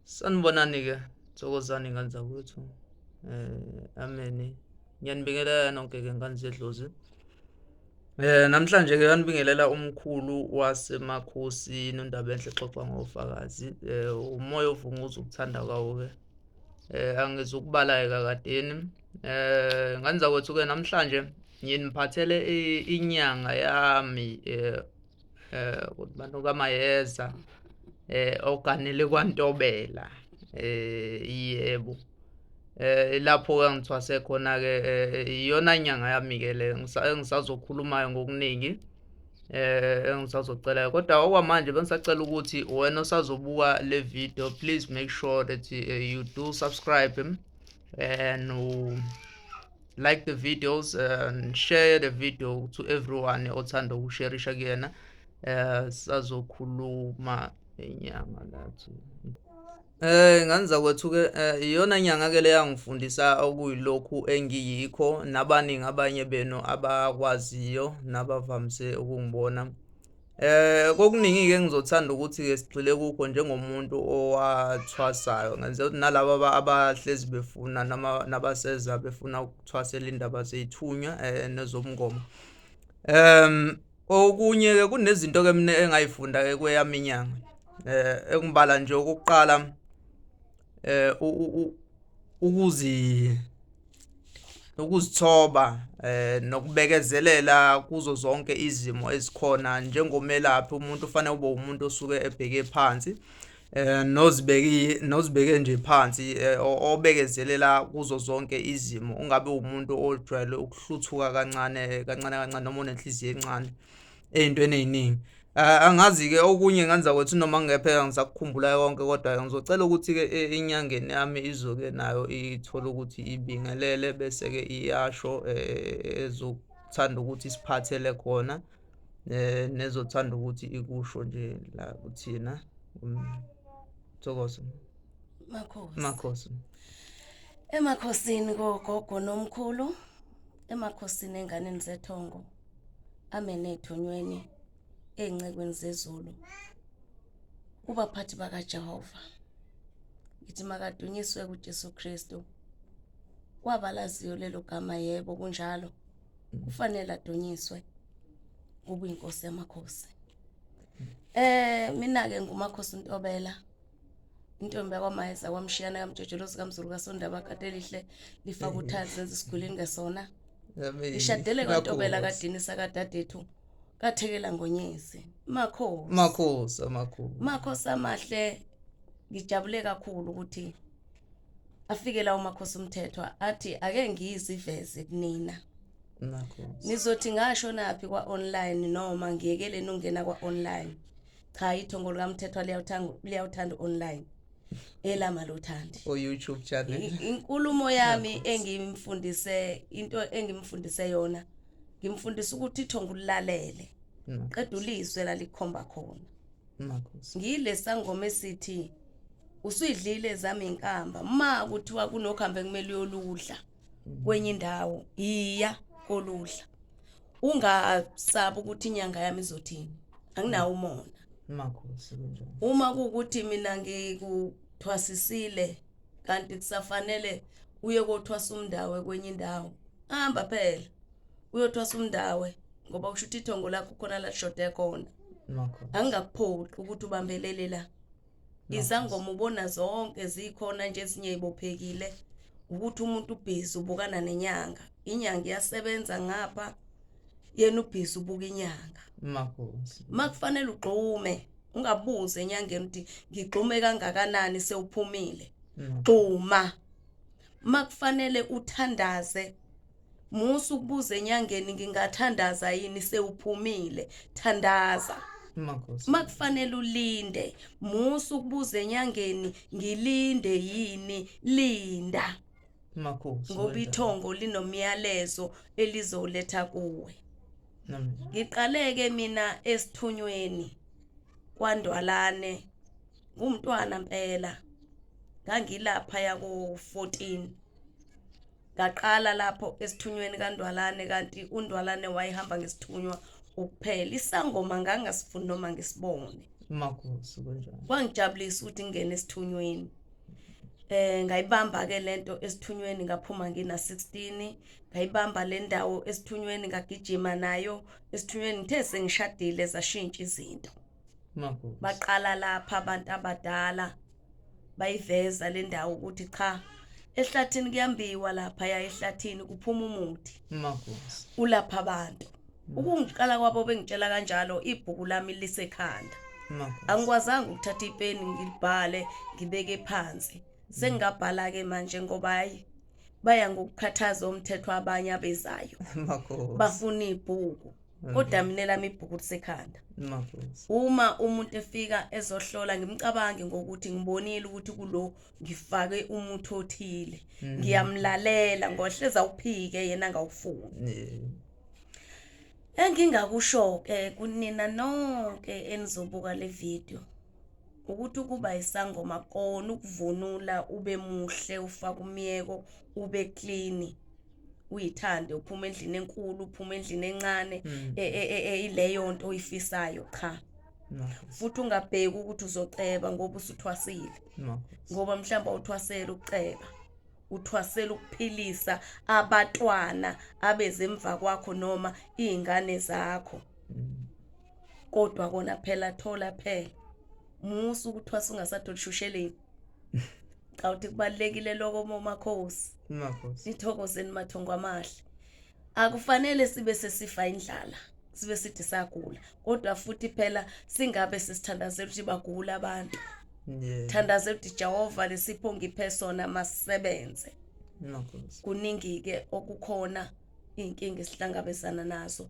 Sanibonani-ke, thokozani ngane zakwethu. Eh, ameni. Ngiyanibingelela nonke-ke ngane zedlozi. Eh, namhlanje-ke ngiyanibingelela umkhulu waseMakhosi noNdabenhle xoxa ngofakazi. Eh, umoya ovunguza ukuthanda kwawo-ke. Eh, angizukubala-ke kakadeni. Eh, ngane zakwethu-ke namhlanje nginiphathele inyanga yami eh eh ukuthi abantu kamayeza eh oganele kwantobela eh yebo eh lapho ke ngithwase khona ke eh, iyona nyanga yami ke le ngisazokhulumayo ngokuningi eh engisazocela kodwa okwamanje bengisacela ukuthi wena osazobuka le video please make sure that eh, you do subscribe eh, and like the videos uh, and share the video to everyone othanda ukusherisha kuyena um sazokhuluma inyanga lathi Eh nganza kwethuke eh, iyona nyanga ke leyangifundisa okuyilokhu engiyikho nabaningi abanye benu abakwaziyo nabavamise ukungibona Eh kokuningi-ke engizothanda ukuthi-ke sigxile kukho njengomuntu owathwasayo ngenzela ukuthi nalaba abahlezi befuna nabaseza befuna ukuthwasela indaba zeyithunywa um eh, nezomngoma um okunye-ke kunezinto-ke mina engayifunda-ke kweyami inyanga um eh, engibala nje okokuqala eh ukuzi ukuzithoba eh nokubekezelela kuzo zonke izimo ezikhona njengomelaphi umuntu ufanele ube umuntu osuke ebheke phansi eh nozibeki nozibeke nje phansi eh, obekezelela kuzo zonke izimo ungabe umuntu ojwayele ukuhluthuka kancane kancane kancane noma unenhliziyo encane ey'ntweni ey'ningi. Angazi-ke okunye ngenza kwethu noma ngingepheka ngisakukhumbulayo konke kodwa-ke ngizocela ukuthi-ke enyangeni yami izoke nayo ithole ukuthi ibingelele bese-ke iyasho ezothanda ukuthi isiphathele khona nezothanda ukuthi ikusho nje la kuthina. Thokoza. Makhosi. Makhosi. Emakhosini kogogo nomkhulu. emakhosini enganeni zethongo amene ethonyweni ezincekwini zezulu kubaphathi bakaJehova ngithi makadunyiswe kuJesu Kristu kwabalaziyo lelo gama yebo kunjalo kufanele adunyiswe kube inkosi yamakhosi eh mina ke ngumakhosi uNtobela intombi yakwamayeza kwamshiyana kamjojolozi kamzulu kasondaba katelihle lifaka uthazi zenza isigwili ngesona lishadele kantobela kadini sakadadethu kathekela ngonyezi makhosi makhosi amakhulu makhosi amahle ngijabule kakhulu ukuthi afike lawo makhosi umthethwa athi ake ngiyiziveze kunina nizothi ngasho naphi kwa-online noma ngiyekeleni ungena kwa-online cha ithongo likamthethwa liyawuthanda liyawuthanda online elama lothandi o YouTube channel inkulumo yami engimfundise into engimfundise yona ngimfundisa ukuthi ithongo ulalele mm. qeda ulizwe lalikhomba khona makhosi ngile sangoma esithi usuyidlile zami inkamba ma kuthiwa kunokuhambe kumele uyoludla kwenye indawo yiya koluhla ungasabi ukuthi inyanga yami izothini anginawo umona makhosi kunjani uma kuwukuthi mina ngikuthwasisile kanti kusafanele uye kothwasa umndawe kwenye indawo hamba phela uyothwasa umndawe ngoba kusho ukuthi ithongo lakho khona lashoda khona makhosi angingakupholi ukuthi ubambelele la izangoma ubona zonke zikhona nje ezinye ibophekile ukuthi umuntu ubhizi ubukana nenyanga inyanga iyasebenza ngapha yena ubhizi ubuka inyanga makuze makufanele ugxume ungabuze enyangeni ukuthi ngigxume kangakanani sewuphumile gxuma makufanele uthandaze Musa ukubuza enyangeni ngingathandaza yini sewuphumile thandaza makufanele ulinde musa ukubuza enyangeni ngilinde yini linda ngoba ithongo linomyalezo elizoletha kuwe ngiqaleke mina esithunyweni kwandwalane ngumntwana mpela ngangilapha yako 14 ngaqala lapho esithunyweni kaNdwalane kanti uNdwalane wayehamba ngesithunywa ukuphela isangoma ngangasifuni noma ngisibone makusu kunjalo kwangijabulisa ukuthi ngingene esithunyweni eh ngayibamba ke lento esithunyweni ngaphuma ngina 16 ngayibamba le ndawo esithunyweni ngagijima nayo esithunyweni ngithe sengishadile zashintsha izinto baqala lapha abantu abadala bayiveza le ndawo ukuthi cha ehlathini kuyambiwa lapha ya ehlathini kuphuma umuthi ulapha abantu ukungiqala kwabo bengitshela kanjalo ibhuku lami lisekhanda angikwazanga ukuthatha ipeni ngilibhale ngibeke phansi sengingabhala-ke manje ngoba hayi baya ngokukhathaza umthetho abanye abezayo bafuna ibhuku kodwa mm. mina lami ibhuku lisekhanda uma umuntu efika ezohlola ngimcabange ngokuthi ngibonile ukuthi kulo ngifake umuthi othile mm. ngiyamlalela ngohleza uphike yena ngawufuni engingakusho-ke kunina nonke enizobuka le video ukuthi ukuba isangoma kona ukuvunula ube muhle ufake umyeko ube clean uyithande uphuma endlini enkulu uphuma endlini encane hmm. e, e, e, ileyo nto oyifisayo cha futhi ungabheki ukuthi uzoceba ngoba usuthwasile ngoba mhlawumbe awuthwasele ukuceba uthwasela ukuphilisa abatwana abezemva kwakho noma iy'ngane zakho mm. kodwa kona phela thola phela musa ukuthwasa ungasatholi shusheleni cha uthi kubalekile lokho momakhosi makhosi nithokozeni mathongo amahle akufanele sibe sesifa indlala sibe sithi sagula kodwa futhi phela singabe sisithandazela ukuthi bagula abantu yeah. thandaze ukuthi Jehova lesipho ngiphe sona masisebenze kuningi ke okukhona inkinga esihlangabezana nazo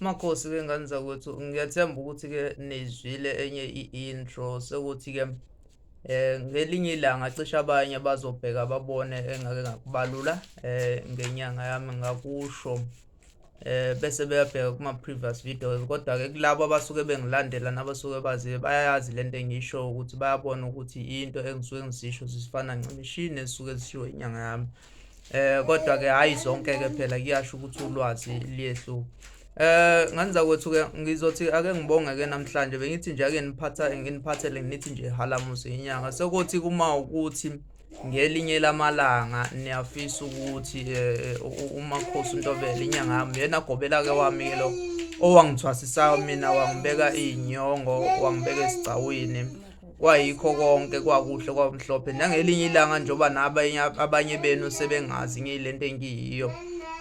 Makhosi ke ngane zakwethu ngiyathemba ukuthi-ke nizwile enye i-intro sekuthi-ke um eh, ngelinye ilanga cishe abanye bazobheka babone engake ngakubalula um ngenyanga yami ngakusho um bese beyabheka kuma-previous videos kodwa-ke kulabo abasuke bengilandela nabasuke bazibe bayayazi le nto engiyishoyo ukuthi bayabona ukuthi into engisuke ngizisho zifana ncimishini ezisuke zishiwo inyanga yami um eh kodwa ke hayi zonke ke phela kuyasho ukuthi ulwazi liyehluka Eh nganza kwethu ke ngizothi ake ngibonge ke namhlanje bengithi nje ake niphatha nginiphathele ngithi nje halamuzi inyanga sekuthi kuma ukuthi ngelinye lamalanga niyafisa ukuthi eh, eh, umakhosi untobele inyanga yami yena gobela ke wami ke lo owangithwasisayo mina wangibeka inyongo wangibeka esigcawini kwayikho konke kwakuhle kwamhlophe nangelinye ilanga njengoba nabanye abanye benu sebengazi ngiyilento engiyiyo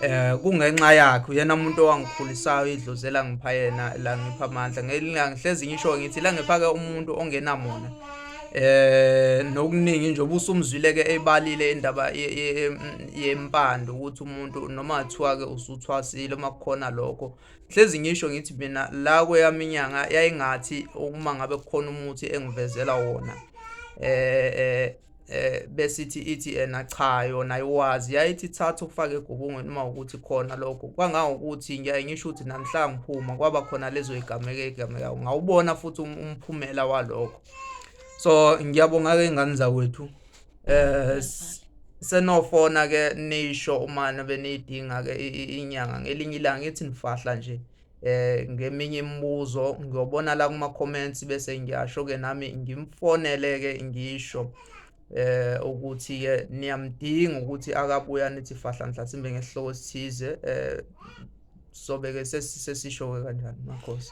eh kungenxa yakhe uyena umuntu owangikhulisayo idluzela ngipha yena la ngipha amandla ngihlezi ngisho ngithi la ngipha ke umuntu ongenamona eh nokuningi nje obusumzwile ke ebalile indaba yempando ukuthi umuntu noma kuthiwa ke usuthwasile uma kukhona lokho hlezi ngisho ngithi mina la kweyami inyanga yayingathi uma ngabe kukhona umuthi engivezela wona eh eh eh besithi ithi yena cha yona iwazi yayithi thatha ufake egubungweni uma ukuthi khona lokho kwangangokuthi ngiyaye ngisho ukuthi namhla ngiphuma kwaba khona lezo igameke igameka ngawubona futhi um, umphumela walokho so ngiyabonga ke ingane zakwethu eh senofona ke nisho uma nabe nidinga ke inyanga ngelinye ilanga ithi nifahla nje eh ngeminye imibuzo ngiyobona la kuma comments bese ngiyasho ke nami ngimfonele ke ngisho eh ukuthi ke niyamdinga ukuthi akabuya nithi fahla mhlasimbe ngesihloko sithize eh sobe ke sesisho ke kanjani makhosi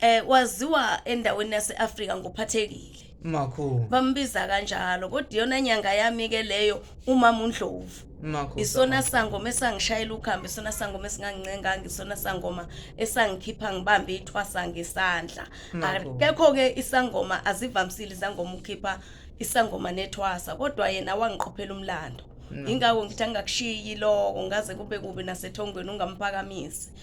eh waziwa endaweni yaseAfrika ngophathekile makhulu bambiza kanjalo kodwa iyona nyanga yami ke leyo umama uNdlovu makhulu isona sangoma esangishayela ukhambe isona sangoma esingangincenganga isona sangoma esangikhipha ngibambe ithwasa ngesandla Makhulu. akekho ke isangoma azivamisile izangoma ukhipha isangoma nethwasa kodwa yena wangiqophela umlando ingakho ngithi angakushiyi lokho ngaze kube kubi nasethongweni ungamphakamisi